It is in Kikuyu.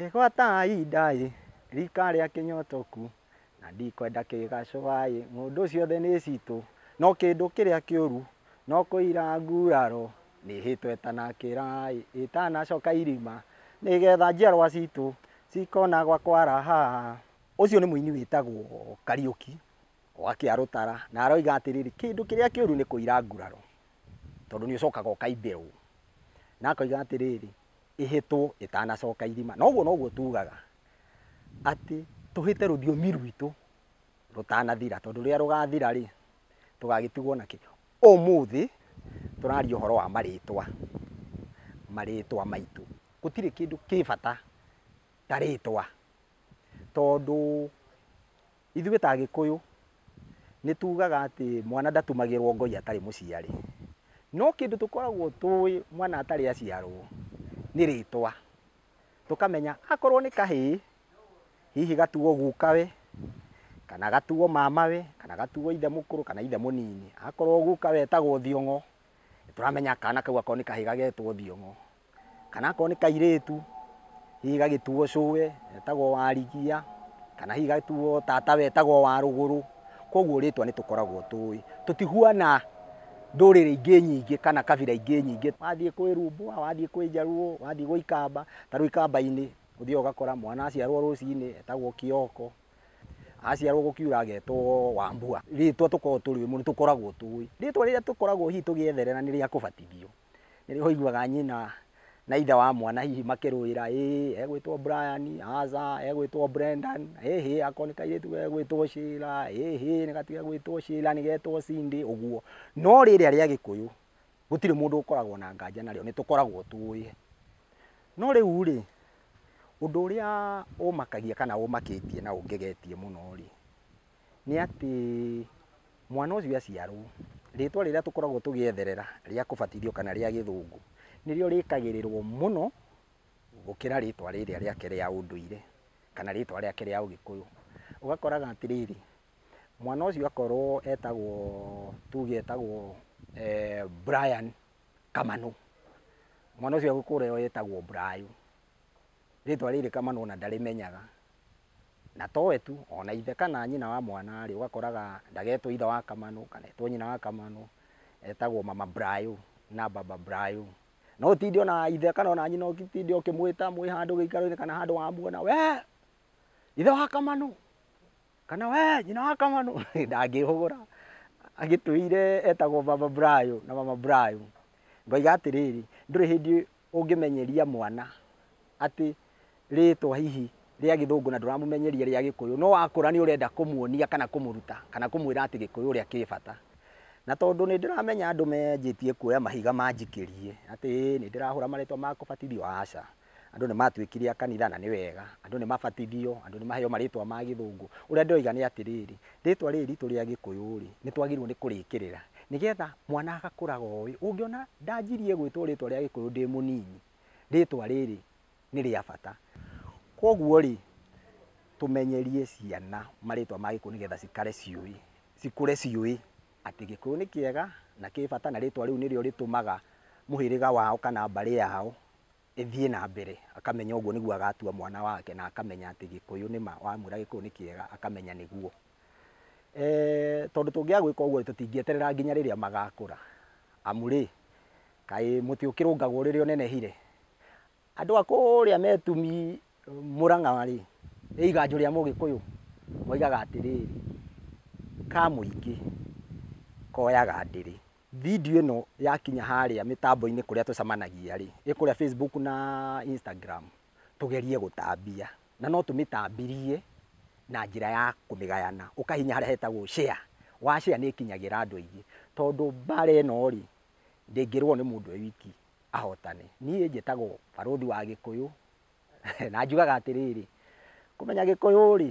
Ĩgwataai ndaĩ rika rĩa kĩnyotoku na ndikwenda kĩgacũaĩ ng'ũndũ ciothe nĩ citũ no kĩndũ kĩrĩa kĩũru no kũira nguraro nĩhĩtwo ĩtanakĩraĩ ĩtanacoka irima nĩgetha njiarwa citũ cikona gwa kwaraha. Ũcio nĩ mũini wĩtagwo Kariũki. o akĩarũtara na aroiga atĩrĩrĩ kĩndũ kĩrĩa kĩũru nĩ kũira nguraro tondũ nĩ ũcokaga ũkaimbĩrwo na akoiga atĩrĩrĩ ĩhĩtwo ĩtanacoka irima na ũguo noguo tugaga atĩ tũhĩte rũthiomi rwitũ rũtanathira tondũ rĩrĩa rũgathira rĩ tũgagĩtigwo na kĩ ũmũthĩ tũraria ũhoro wa marĩtwa marĩtwa maitũ gũtirĩ kĩndũ kĩ bata ta rĩtwa tondũ Ithuĩ ta Agĩkũyũ nĩ tugaga atĩ mwana ndatumagĩrwo ngoi atarĩ mũciari. No kĩndũ tũkoragwo tũĩ mwana atarĩ aciarwo nĩ rĩtwa. Tũkamenya akorwo nĩ kahĩĩ, hihi gatuo gukawe, kana gatuo mamawe, kana gatuo ithe mũkũrũ, kana ithe mũnini. Akorwo gukawe etagwo Thiong'o, nĩ tũramenya kana kau akorwo nĩ kahĩĩ gagetwo Thiong'o. kana akorwo nĩ kairĩtu hihi gagĩtuo cũwe etagwo warigia, kana hihi gagĩtuo tatawe etagwo wa rũgũrũ, koguo rĩtwa nĩ tũkoragwo tũĩ. Tũtihuana ndũrĩrĩ ingĩ nyingĩ kana kabira ingĩ nyingĩ. Wathiĩ kwĩ rumbwa, wathiĩ kwĩ njaruo, wathiĩ gwĩ ikamba, ta rĩu ikamba-inĩ ũthiaga ũgakora mwana aciarwo rũcinĩ etagwo kĩoko, aciarwo gũkiura agetwo wambua. Rĩtwa tũkoragwo tũrĩ ũmwe nĩ tũkoragwo tũĩ. Rĩtwa rĩrĩa tũkoragwo hihi tũgĩetherera nĩ rĩa kũbatithio. Nĩ rĩo ũiguaga nyina na ithe wa mwana hihi makĩrũĩra, ĩĩ egwĩtwo Brian, aca egwĩtwo Brendan, ĩhĩ akorwo nĩ kairĩtu gegwĩtwo Sheila, ĩhĩ nĩ gatigegwĩtwo Sheila nĩ getwo Cindy, ũguo. No rĩrĩa rĩa Gĩkũyũ, gũtirĩ mũndũ ũkoragwo na nganja narĩo, nĩ tũkoragwo tũĩ. No rĩu rĩ, ũndũ ũrĩa ũmakagia kana ũmakĩtie na ũngegetie mũno rĩ, nĩ atĩ mwana ũcio aciarwo, rĩtwa rĩrĩa tũkoragwo tũgĩetherera rĩa kũbatithio kana rĩa gĩthũngũ, nĩrĩo rĩkagĩrĩrwo mũno gũkĩra rĩtwa rĩrĩa rĩake rĩa ũndũire kana rĩtwa rĩake rĩa ũgĩkũyũ. Ũgakoraga atĩrĩrĩ, mwana ũcio akorwo etagwo tuge etagwo Brian Kamanũ, mwana ũcio agĩkũre etagwo Brayo, rĩtwa rĩrĩ Kamanũ ona ndarĩmenyaga. Na to we tu, o na ithe kana nyina wa mwana rĩ, ũgakoraga ndagetwo ithe wa kamanũ, kana etwo nyina wa kamanũ, etagwo mama brayo na baba brayo. No ũtinde o na ithe kana o na nyina ũgĩtinda ũkĩmwĩta mwĩ handũ gĩikaro-inĩ kana handũ wamuona, wee ithe wa kamanũ, kana wee nyina wa kamanũ, ndangĩhũgũra. Agĩtũire etagwo baba brayo na mama brayo. Ngoiga atĩrĩrĩ, ndũrĩ hĩndĩ Ũngĩmenyeria mwana atĩ rĩtwa hihi rĩa gĩthũngũ na ndũramũmenyeria rĩa gĩkũyũ, no akũra nĩ ũrenda kũmuonia kana kũmũruta kana kũmwĩra atĩ gĩkũyũ ũrĩa kĩ bata. Na tondũ nĩ ndĩramenya andũ menjĩtie kuoya mahiga manjikĩrie atĩ ĩĩ nĩ ndĩrahũra marĩtwa ma kũbatithio, aca. Andũ nĩ matuĩkire a kanitha na nĩ wega, andũ nĩ mabatithio, andũ nĩ maheo marĩtwa ma gĩthũngũ. Ũrĩa ndĩroiga nĩ atĩrĩrĩ, Rĩtwa rĩrĩ ritũ rĩa Gĩkũyũ-rĩ, nĩ twagĩrĩirwo nĩ kũrĩkĩrĩra nĩ getha mwana agakũraga oĩ. Ũngĩona ndanjirie gwĩtwo rĩtwa rĩa Gĩkũyũ ndĩ mũnini, rĩtwa rĩrĩ nĩ rĩa bata. Koguo-rĩ, tũmenyerie ciana marĩtwa ma Gĩkũyũ nĩ getha cikare ciũĩ, cikũre ciũĩ atĩ Gĩkũyũ nĩ kĩega na kĩ bata na rĩtwa rĩu nĩrĩo rĩtũmaga mũhĩrĩga wao kana mbarĩ yao. ĩthiĩ na mbere, akamenya ũguo nĩguo agatua mwana wake na akamenya atĩ Gĩkũyũ nĩ ma, wamwĩra Gĩkũyũ nĩ kĩega akamenya nĩguo. Tondũ tũngĩaga gwĩka ũguo-rĩ, tũtingĩeterera nginya rĩrĩa magakũra, amu-rĩ, kaĩ mũtĩ ũkĩrũngagwo rĩrĩa ũnenehire? Andũ a kũrĩa Metumi, Mũrang'a-rĩ, he iganjũ rĩa Mũgĩkũyũ moigaga atĩrĩrĩ, ka mũingĩ koyaga ndĩrĩ. Video ĩno yakinya harĩa mĩtambo-inĩ kũrĩa tũcamanagia rĩ, ĩ kũrĩa Facebook na Instagram, tũgerie gũtambia. Na no tũmĩtambirie na njĩra ya kũmĩgayana. Ũkahihinya harĩa hetagwo share. Wa share nĩ ĩkinyagĩra andũ aingĩ. Tondũ mbara ĩno rĩ, ndĩngĩrũo nĩ mũndũ e wiki ahotane. Niĩ njĩtagwo barũthi wa Gĩkũyũ, na njugaga atĩrĩrĩ, kũmenya Gĩkũyũ rĩ,